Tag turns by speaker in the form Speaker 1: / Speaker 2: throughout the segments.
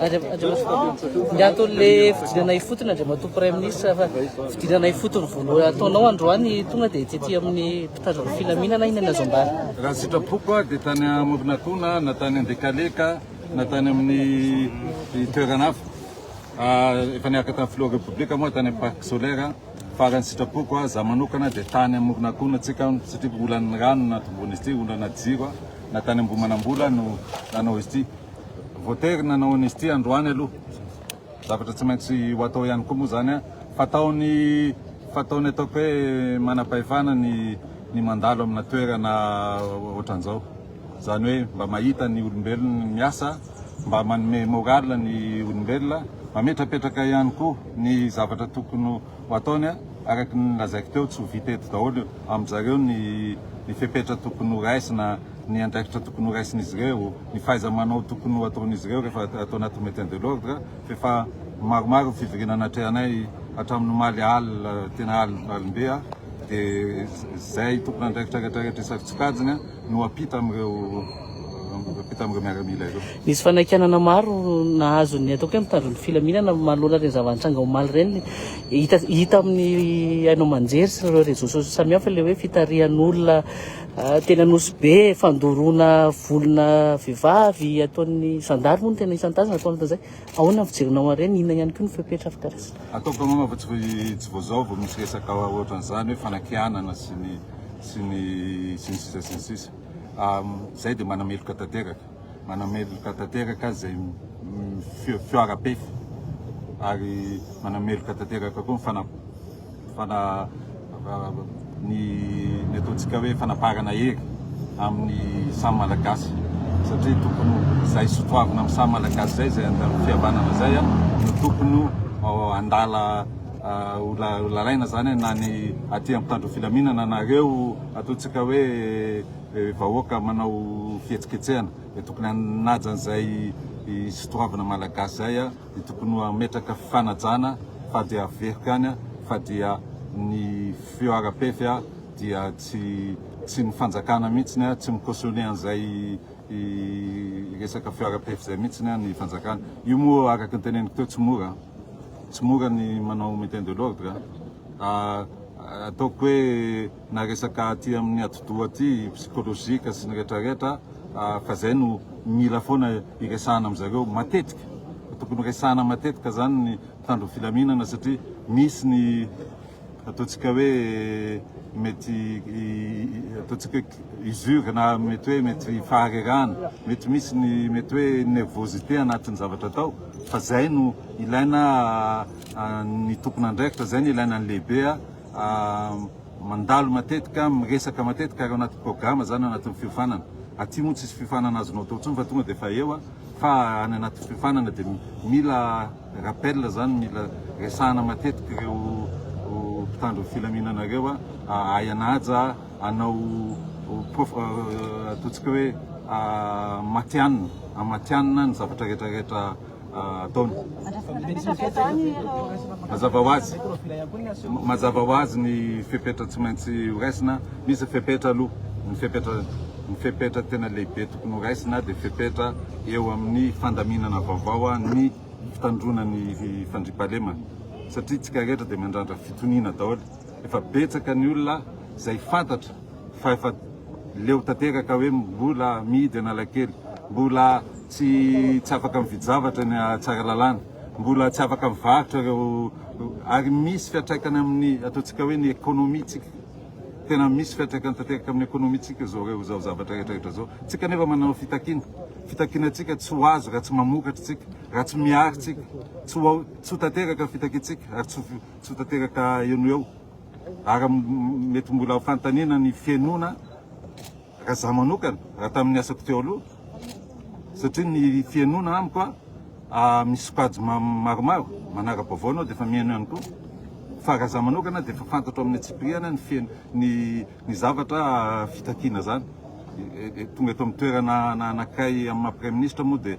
Speaker 1: Andriamatoan'le fidirana ifotony Andriamatoa Praiminisitra fa fidirana ifotony voalohany ataonao androany tonga dia tety amin'ny mpitandron'ny filaminana iny ny azo ambara. Raha ny sitrapoko
Speaker 2: dia tany Amoronakona na tany Andekaleka na tany amin'ny toerana hafa efa niaraka tamin'ny filoha repoblika moa tany amin'ny parc solaire Faran'ny sitrapoko, za manokana dia tany amoron'akona tsika satria olan'ny rano no nahatomboana izy ity, olana jiro na tany Ambohimanambola no nanao izy ity. Voatery nanao an'izy ity androany aloha, zavatra tsy maintsy ho atao ihany koa moa zany fataony fataony ataoko hoe manam-pahefana ny ny mandalo amina toerana ohatran'izao, zany hoe mba mahita ny olombelona miasa. mba manome morale ny olombelona, mametrapetraka ihany koa ny zavatra tokony ho ataony, araka ny lazaiko teo tsy ho vita eto daholo amin-dry zareo ny ny fepetra tokony ho raisina, ny andraikitra tokony ho raisin'izy ireo, ny fahaiza-manao tokony ho ataon'izy ireo rehefa ato anatin'ny maintien de l'ordre, f'efa maromaro ny fivoriana natrehanay hatramin'omaly alina, tena alim-be dia izay tompon'andraikitra rehetrarehetra isaky tsy kajina. no ampita amin'ireo ampita amin'ireo miaramila ireo. Nisy fanaikanana
Speaker 1: maro nahazo ny ataoko hoe mitandro ny filaminana manoloana ireny zava-nitranga omaly ireny. Hita hita amin'ny haino aman-jery sy ireo réseaux sociaux samihafa ilay hoe fitarihan'olona ah, teny Anosy Be, fandoroana volona vehivavy ataon'ny zandary moa no tena isan-tazana ataon'izay. Ahoana ny fijerinao an'ireny? Inona ihany koa ny fepetra fikarakara? Ataoko angamba fa tsy
Speaker 2: vao izao vao misy resaka ohatran'izany hoe fanakianana sy ny sy ny sy ny sisa sy ny sisa. Izay dia manameloka tanteraka, manameloka tanteraka izay fihoaram-pefy ary manameloka tanteraka koa ny fana-. Fana, ny ny ataontsika hoe fanaparana hery amin'ny samy Malagasy satria tokony ho izay sotoavina amin'ny samy Malagasy izay izay andalan'ny fihavanana izay no tokony ho andala ho lalaina izany na ny aty amin'ny mpitandro filaminana na ireo ataontsika hoe vahoaka manao fihetsiketsehana dia tokony hanaja an'izay sotoavina Malagasy izay dia tokony ho hametraka fanajana fa dia averiko ihany fa dia ny feo ara-pefy dia tsy tsy ny fanjakana mihitsiny tsy mi-cautionner an'izay resaka feo ara-pefy izay mihitsiny ny fanjakana. Io moa araka ny teneniko teo tsy mora tsy mora ny manao maintien de l'ordre ataoko hoe na resaka aty amin'ny atidoha aty, psychologique sy ny rehetra rehetra fa zay no mila foana iresahana amin zareo matetika, tokony resahana matetika zany ny mpitandro filaminana satria misy ny ataontsika hoe mety ataontsika hoe usure na mety hoe mety faharerahana, mety misy ny mety hoe nervosité anatin'ny zavatra atao fa zay no ilaina ny tompon'andraikitra, zay no ilaina ny lehibe Mandalo matetika, miresaka matetika ary ao anaty programa izany, ao anatin'ny fiofanana. Aty moa tsisy fiofanana azonao atao intsony fa tonga dia efa eo, fa any anaty fiofanana dia mila rappel izany, mila resahana matetika ireo mpitandro ny filaminana ireo ahay hanaja, hanao ataontsika hoe matihanina, hamatihanina ny zavatra rehetrarehetra. ataony. Mazava ho azy, mazava ho azy ny fepetra tsy maintsy horaisina. Misy ny fepetra aloha, ny fepetra ny fepetra tena lehibe tokony horaisina dia fepetra eo amin'ny fandaminana vaovao ny fitandroana ny fandriampahalemana satria tsika rehetra dia mandrandra fitoniana daholo. Efa betsaka ny olona izay fantatra fa efa leo tanteraka hoe mbola mihidy Analakely, mbola tsy tsy afaka mividy-javatra eny Tsaralalàna, mbola tsy afaka mivarotra ireo ary misy fiantraikany amin'ny ataontsika hoe ny ekonomintsika. Tena misy fiantraikany tanteraka amin'ny ekonomintsika izao ireo izao zavatra rehetra rehetra izao. Tsika anefa manao fitakiana, fitakiana tsika tsy ho azo raha tsy mamokatra tsika, raha tsy miary tsika, tsy ho ao tsy ho tanteraka ny fitakiantsika ary tsy tsy tanteraka eo no eo ary mety mbola ho fanontaniana ny fihainoana raha za manokana raha tamin'ny asako teo aloha satria ny fihainoana amiko a misy sokajy maromaro manara-baovao anao dia efa mihaino ihany koa fa raha za manokana dia efa fantatro amin'ny atsipiriana ny fihaino ny ny zavatra fitakiana zany tonga eto amin'ny toerana anakay amin'ny maha praiministra moa dia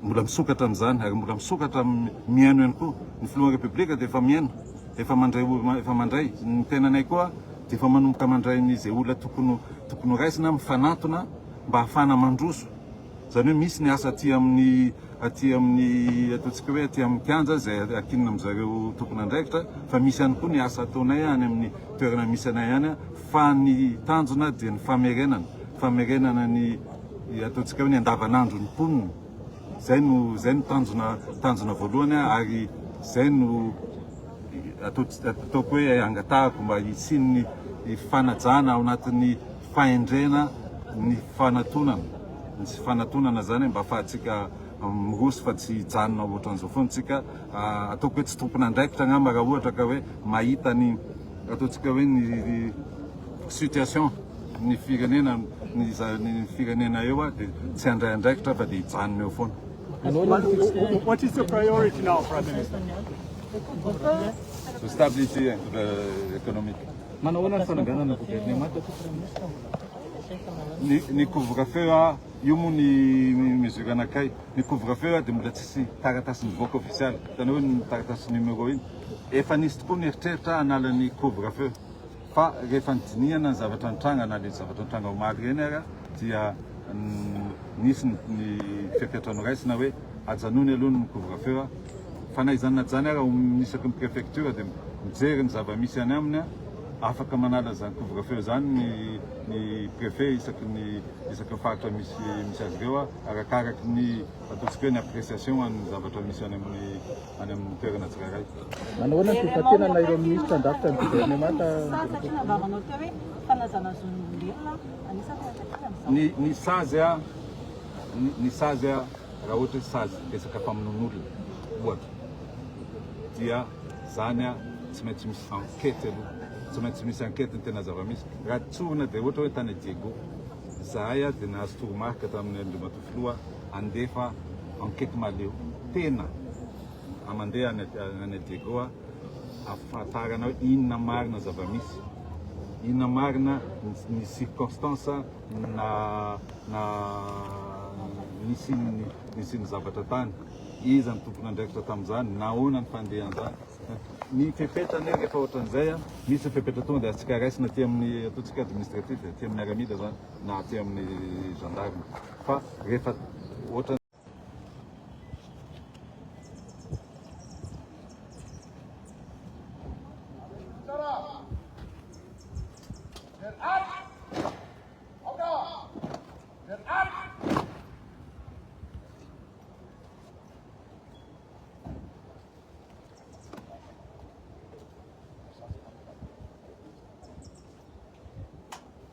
Speaker 2: Mbola misokatra amin'izany ary mbola misokatra mihaino ihany koa. Ny Filohan'ny Repoblika dia efa mihaino, efa mandray olona, efa mandray. Ny tenanay koa dia efa manomboka mandray ny izay olona tokony tokony ho raisina, mifanatona mba hahafahana mandroso. Izany hoe misy ny asa aty amin'ny aty amin'ny ataontsika hoe aty amin'ny kianja izay akinona amin-dry zareo tompon'andraikitra fa misy ihany koa ny asa ataonay any amin'ny toerana misy anay any fa ny tanjona dia ny famerenana, famerenana ny ataontsika hoe ny andavanandro ny mponina zay no zay no tanjona tanjona voalohany ary zay no ataoko hoe angatahako mba hisian'ny fanajana ao anatin'ny fahendrena ny fanatonana ny fanatonana zany mba fahatsika miroso fa tsy hijanona ohatran'izao foana tsika ah, ataoko hoe tsy tompon'andraikitra angamba raha ohatra ka hoe mahita ny ataontsika hoe ny situation ny firenena ny firenena eo ary dia tsy handray andraikitra fa dia hijanona eo foana.
Speaker 3: What is your priority now, Prime Minister?
Speaker 2: The stability and the economic. Manahoana ny fananganana gouvernement aty, Prime Minister? Ny ny couvre-feu a, io moa ny mesure anakay. Ny couvre-feu a dia mbola tsisy taratasy nivoaka ofisialy, hitanao iny taratasy numéro iny. Efa nisy tokoa ny eritreritra hanala ny couvre-feu. Fa rehefa nidinihana ny zavatra nitranga na le zavatra nitranga omaly ireny ary dia nisy ny ny fepetra noraisina hoe ajanony aloha ny couvre feu fa na izany na jany ary ao amin'ny isaky ny prefecture dia mijery ny zava-misy any aminy afaka manala izany couvre feu izany ny ny prefet isaky ny isaky ny faritra misy misy azy ireo arakaraky ny ataontsika hoe ny appreciation an'ny zavatra misy any amin'ny any amin'ny toerana tsirairay. Manahoana ny
Speaker 4: toebatenana ireo minisitra handrafitra ny governemanta?
Speaker 2: Ny ny sazy a ny sazy a raha ohatra hoe sazy resaka famonoan'olona ohatra dia zany a tsy maintsy misy enquête aloha tsy maintsy misy enquête ny tena zava-misy raha tsorina dia ohatra hoe tany Diego zahay a dia nahazo toromarika tamin'ny andriamatoa Filoha handefa enquete mahaleo tena a mandeha any any Diego a afahatarana hoe inona marina ny zava-misy, inona marina ny circonstance na na nisian'ny nisian'ny zavatra tany, iza ny tompon'andraikitra tamin'izany, nahoana ny fandehan'izany. Ny fepetra anie rehefa ohatran'izay a, misy ny fepetra tonga dia atsika raisina aty amin'ny ataontsika administratif, aty amin'ny miaramila izany. na aty amin'ny gendarme fa rehefa ohatra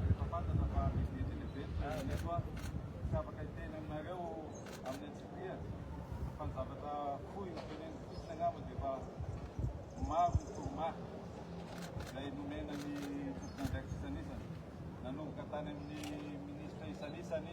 Speaker 2: Rehefa fantatra fa misy gidro ny event dia ireto avy tsy afaka hiteny aminareo amin'ny antsipiriany fa ny zavatra fohy no teneniko fotsiny angamba dia efa maro ny toromarika izay nomena ny tompon'andraikitra isanisany nanomboka tany amin'ny minisitra isanisany